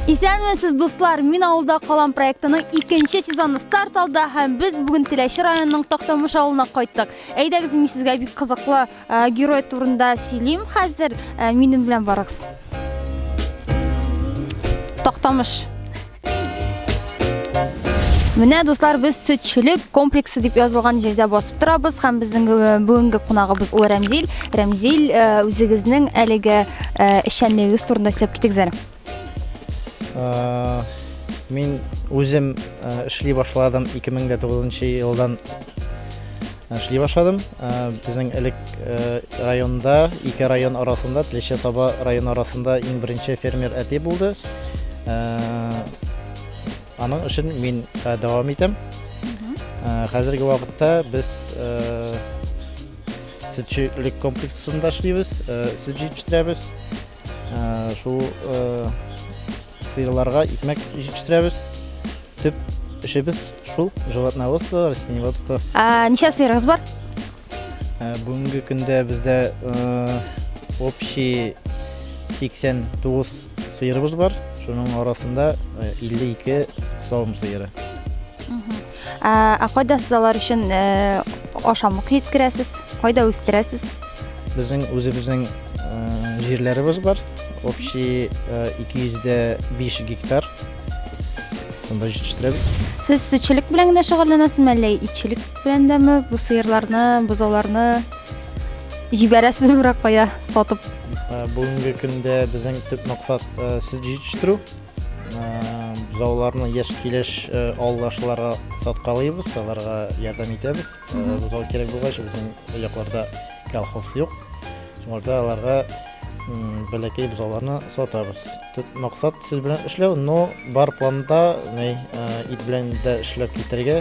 Исәнмесез, дуслар! Мин авылда калам проектының икенче сезоны старт алды һәм без бүген Теләче районының Тактамыш авылына кайттык. Әйдәгез, мин сезгә бик кызыклы э, герой турында сөйлим хәзер. Э, минем белән барыгыз. Тактамыш. Менә дуслар, без сөтчелек комплексы дип язылган җирдә басып торабыз һәм безнең э, бүгенге кунагыбыз ул Рәмзил. Рәмзил, э, үзегезнең әлеге э, эшчәнлегегез турында сөйләп китегез әле. Мин үзем эшли башладым 2009 елдан Эшли башладым. Безнең элек районда, ике район арасында, Тлече Таба район арасында иң беренче фермер әти булды. Аның эшен мин дәвам итәм. Хәзерге вакытта без сөтчелек комплексында эшлибез, сүт җитештерәбез. Шул сыерларга икмәк җитештерәбез. Төп эшебез шул, животноводство, растениеводство. Ничә сыерыгыз бар? Бүгенге көндә бездә общий 89 сыерыбыз бар. Шуның арасында 52 савым сыеры. Ә, ә кайда сез алар өчен ә, ашамлык җиткерәсез? Кайда үстерәсез? Безнең үзебезнең ә, җирләребез бар. Общий ә, 205 гектар. Шунда җитештерәбез. Сез сөтчелек белән генә шөгыльләнәсезме, әллә итчелек белән дәме? Бу сыерларны, бозауларны җибәрәсезме берәр кая сатып? Ә, Бүгенге көндә безнең төп максат ә, сөт җитештерү. бозауларны яшь килеш авылдашларга саткалыйбыз аларга ярдәм итәбез бозау кирәк булгач безнең якларда колхоз юк шуңарда аларга бәләкәй бозауларны сатабыз төп максат сүз белән эшләү но бар планда ит белән дә эшләп китәргә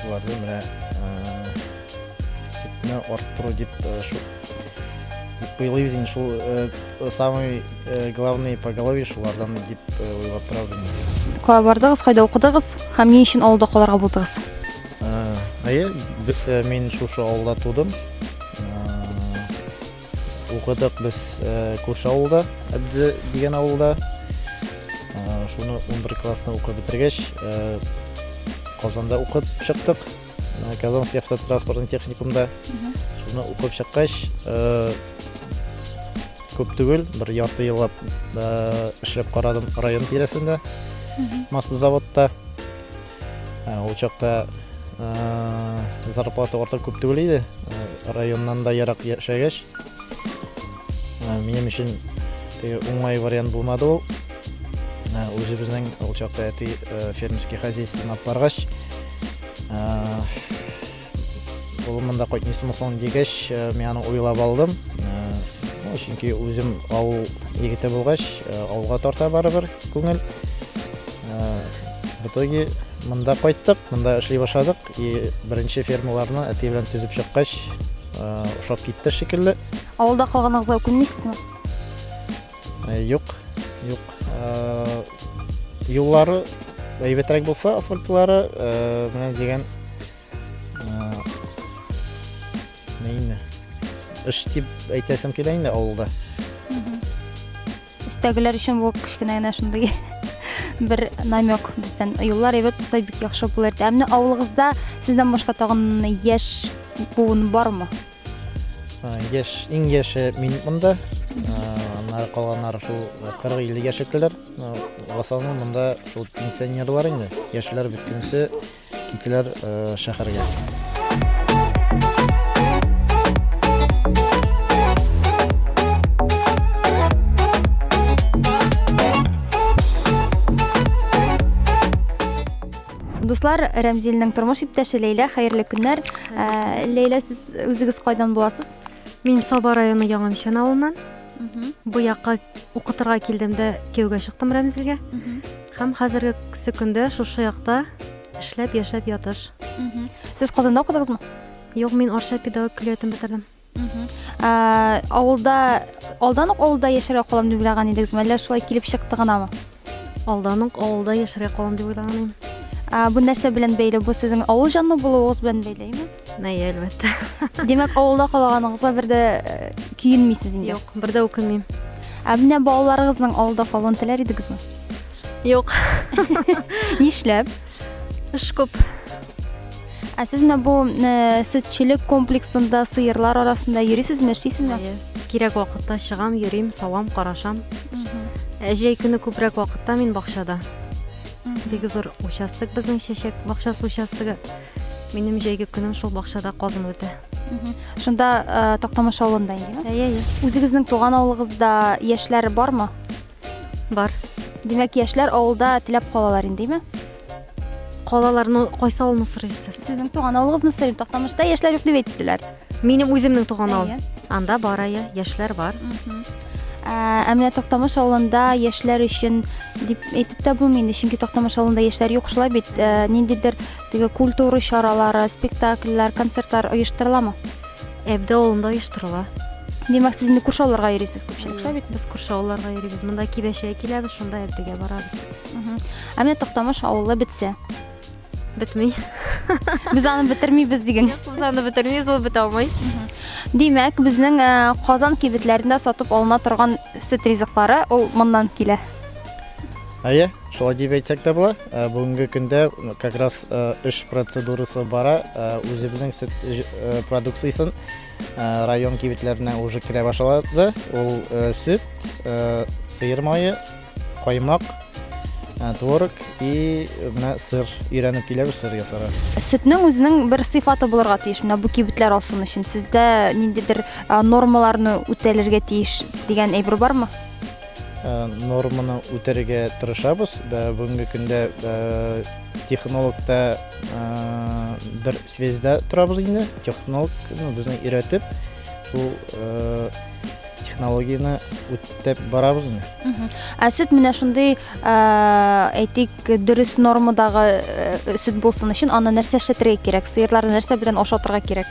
Шуларны менә сүтне арттыру дип шул дип уйлыйбыз инде шул самый главный поголовье шулардан дип уйлап торабыз кая бардыгыз кайда укыдыгыз һәм ни өчен авылда калырга булдыгыз әйе мин шушы авылда тудым Укыдык без күрше авылда, Әбде дигән авылда. Шуны 11 классны укып бетергәч, Казанда укып чыктык. Казанский автотранспортный техникумда. Шуны укып чыккач, күп түгел, бер ярты еллап эшләп карадым район тирәсендә, маслозаводта. Ә, Ул чакта ә, зарплата артык күп түгел иде. Ә, Районнан да ерак яшәгәч, ә, минем өчен теге уңай вариант булмады ул. Ә, Үзебезнең ул чакта әти ә, фермерский хозяйствоны алып баргач, ә, Улым монда кайтмыйсы мөмкин дигәч, э, мин аны уйлап алдым. Э, чөнки үзем авыл егете булгач, э, авылга тарта барыбер күңел. В итоге монда кайттык, монда эшли башладык. И беренче фермаларны әти белән төзеп чыккач, ошап китте шикелле. Авылда калганыгызга үкенмисезме? Э, юк, юк. Э, юллары әйбәтрәк булса, асфальтлары, э, менә дигән инде. Эш дип әйтәсем килә инде авылда. Өстәгеләр өчен бу кечкенә генә шундый бер намек бездән. Юллар әйбәт булса бик яхшы булыр иде. Ә менә авылыгызда сездән башка тагын яшь буын бармы? Яш, иң яше мин монда. Аннары калганнары шул 40-50 яшьлекләр. Асалны монда шул пенсионерлар инде. Яшьләр бөтенесе китәләр шәһәргә. Дуслар, Рәмзилнең тормыш иптәше Ләйлә, хәерле көннәр. Ә, Ләйлә, сез үзегез кайдан буласыз? Мин Саба районы Яңанчан авылыннан. Бу якка укытырга килдем дә кияүгә чыктым Рәмзилгә. Һәм хәзерге көндә шушы якта эшләп, яшәп ятыш. Сез Казанда укыдыгызмы? Юк, мин Арча педагог көллиятен бетердем. Ә, авылда алдан ук авылда яшәргә калам дип уйлаган идегезме, әллә шулай килеп чыкты гынамы? Алдан ук авылда яшәргә калам дип уйлаган идем. Ә, бу нәрсә белән бәйле? Бу сезнең авыл җанлы булуыгыз белән бәйлеме? Әйе, әлбәттә. Димәк, авылда калганыгызга бер дә э, көенмисез инде. Юк, бер дә үкенмим. Ә менә балаларыгызның авылда калуын теләр идегезме? Юк. Нишләп? Эш күп. Ә сез менә бу э, сөтчелек комплексында сыерлар арасында йөрисезме, эшлисезме? Кирәк вакытта чыгам, йөрим, савам, карашам. Ә җәй көне күбрәк вакытта мин бакчада. Бик зур участок безнең чәчәк бакчасы участогы. Минем җәйге көнем шул бакчада казын үтә. Шунда э, Тактамыш авылында инде. Әйе, әйе. Үзегезнең туган авылыгызда яшьләр бармы? Бар. Димәк, яшьләр авылда теләп калалар инде, димә? Калаларны кайсы авылны сорыйсыз? Сезнең туган авылыгызны сорыйм. Тактамышта яшьләр юк дип әйттеләр. Минем үземнең туган авыл. Анда бар ая, яшьләр бар. Ә менә Тактамыш авылында яшьләр өчен дип әйтеп тә булмый инде, чөнки Тактамыш авылында яшьләр юк шулай бит. Ниндидер теге культура чаралары, спектакльләр, концертлар оештырыламы? Әбдә авылында оештырыла. Димәк, сез инде күрше авылларга йөрисез күпчелек шулай бит? Без күрше авылларга йөрибез. Монда Кибәшә киләбез, шунда Әбдегә барабыз. Ә менә Токтамыш авылы бетсә. Бетми. Без аны бетермибез диген. Без аны бетермибез, ул бетә алмый. Димәк, безнең э, Казан кибетләрендә сатып алына торган сөт ризыклары ул моннан килә. Әйе, шулай дип әйтсәк тә була. Ә, Бүгенге көндә м, как раз ә, эш процедурасы бара. Ә, Үзебезнең сөт ж- ә, продукциясен ә, район кибетләренә уже керә башлады. Ул ә, сөт, ә, сыер мае, каймак, ә, творог и менә сыр. Өйрәнеп киләбез сыр ясарга. Сөтнең үзенең бер сыйфаты булырга тиеш. Менә бу кибетләр алсын өчен сездә ниндидер а, нормаларны үтәлергә тиеш дигән әйбер бармы? норманы үтәргә тырышабыз. Бүгенге көндә технологта бер связьда торабыз инде. Технолог безне өйрәтеп, шул технологияне үтеп барабыз инде. Ә сөт менә шундый, әйтик, дөрес нормадагы сөт булсын өчен, аны нәрсә эшләтергә кирәк? Сыерларны нәрсә белән ашатырга кирәк?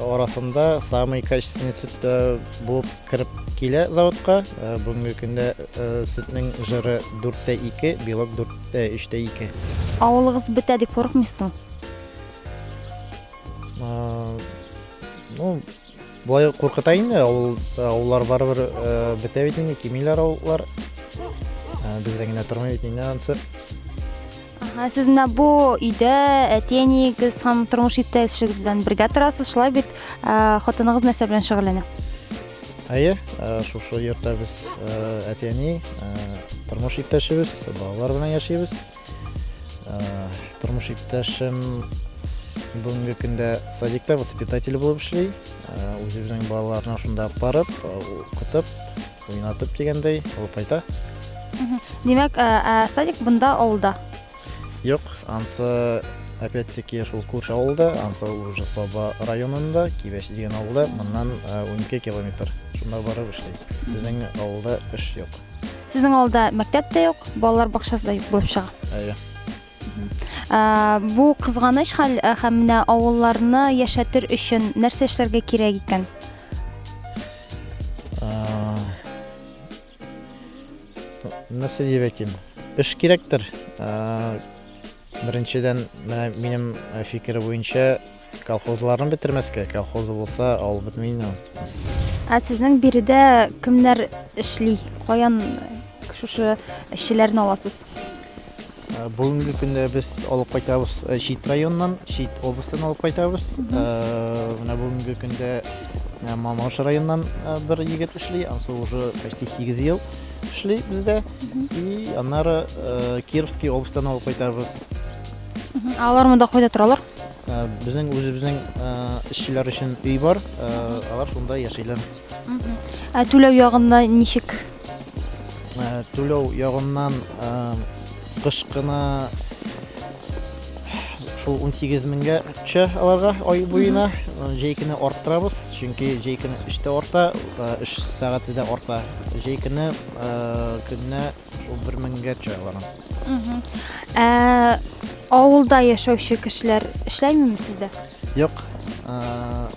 арасында самый качественный сөт э, булып кереп килә заводка. Э, бүгенге көндә э, сөтнең жыры 4тә 2, белок 4тә 3тә 2. Авылыгыз бетә дип курыкмыйсың? Ну, болай куркыта инде, авыл авыллар барыбер бетә бит инде, кимиләр авыллар. Бездә генә тормый бит инде ансы. Ә сез менә бу өйдә әти-әниегез һәм тормыш иптәшегез белән бергә торасыз, шулай бит? Ә, Хатыныгыз нәрсә белән шөгыльләнә? Әйе, ә, шушы йортта без ә, әти-әни, ә, тормыш иптәшебез, балалар белән яшибез. Ә, Тормыш иптәшем бүгенге көндә садикта воспитатель булып эшли. Ә, Үзе безнең балаларны шунда алып барып, ә, укытып, Уйнатып дигәндәй, алып кайта. Димәк, ә, ә, садик бында авылда. Юк, ансы опять-таки шул күрше авылда, ансы уже Саба районында, Кибәш дигән авылда, моннан ә, 12 километр. Шунда барып эшли. Безнең авылда эш юк. Сезнең авылда мәктәп тә юк, балалар бакчасы да юк булып чыга. Әйе. Бу кызганыч хәл һәм менә авылларны яшәтер өчен нәрсә эшләргә кирәк икән? Нәрсә дип әйтим? Эш кирәктер. Беренчедән, менә минем фикер буенча, Колхозларны бетермәскә, колхозы булса, авыл бетми инде. Ә сезнең биредә кемнәр эшли? Каян шушы эшчеләрне аласыз? Ә, Бүгенге көндә без алып кайтабыз ә, чит районнан, чит областьтан алып кайтабыз. Ә, Менә бүгенге көндә ә, Мамаш районнан ә, бер егет эшли, анысы уже почти 8 ел эшли бездә. И аннары ә, Кировский областьтан алып кайтабыз. Алар монда кайда торалар? Безнең үзебезнең эшчеләр өчен өй бар, алар шунда яшиләр. Ә түләү ягында ничек? Түләү ягыннан кышкына шул 18 меңгә төшә аларга ай буена. Җәйкене арттырабыз, чөнки җәйкене эштә арта, эш сәгате дә арта. Җәйкене көнне Шул бер меңгә төшә аларның. Мгм. Ә, авылда яшәүче кешеләр эшләймени сездә? Юк. э,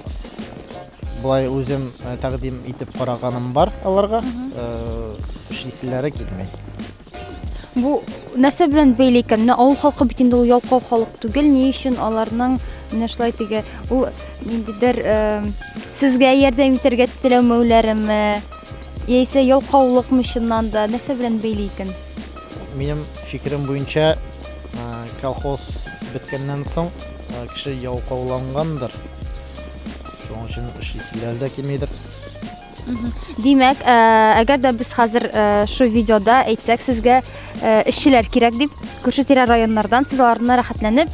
Болай үзем э, тәкъдим итеп караганым бар аларга. Э, Эшлиселәре килми. Бу нәрсә белән бәйле икән? Менә авыл халкы бит инде ул ялкау халык түгел. Ни өчен аларның менә шулай теге ул ниндидер э, сезгә ярдәм итәргә теләмәүләреме? Яисә ялкаулыкмы чыннан да, нәрсә белән бәйле икән? Минем фикерем буенча, колхоз беткәннән соң кеше ялкаулангандыр. Шуның өчен эшләр дә килмидер. Димәк, әгәр дә без хәзер шу видеода әйтсәк сезгә эшчеләр кирәк дип, күрше тирә районнардан сез аларны рәхәтләнеп,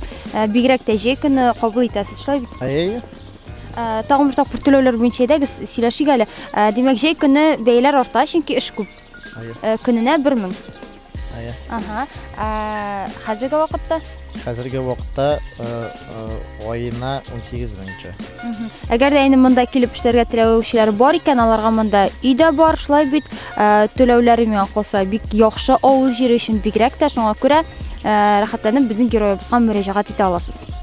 бигрәк тә җәй көне кабул итәсез, шулай бит? Әйе. Ә, тагын бер тапкыр түләүләр буенча әйдәгез, сөйләшик әле. Ә, димәк, җәй көне бәяләр арта, чөнки эш күп. Ә, көненә 1000. Әйе. Ага. Ә, хәзерге вакытта? Хәзерге вакытта э, э, аена 18 меңчә. Әгәр дә инде монда килеп эшләргә теләүчеләр бар икән, аларга монда өй дә бар, шулай бит. Ә, түләүләре миңа калса бик яхшы авыл җире өчен бигрәк тә шуңа күрә ә, рәхәтләнеп безнең героебызга мөрәҗәгать итә аласыз.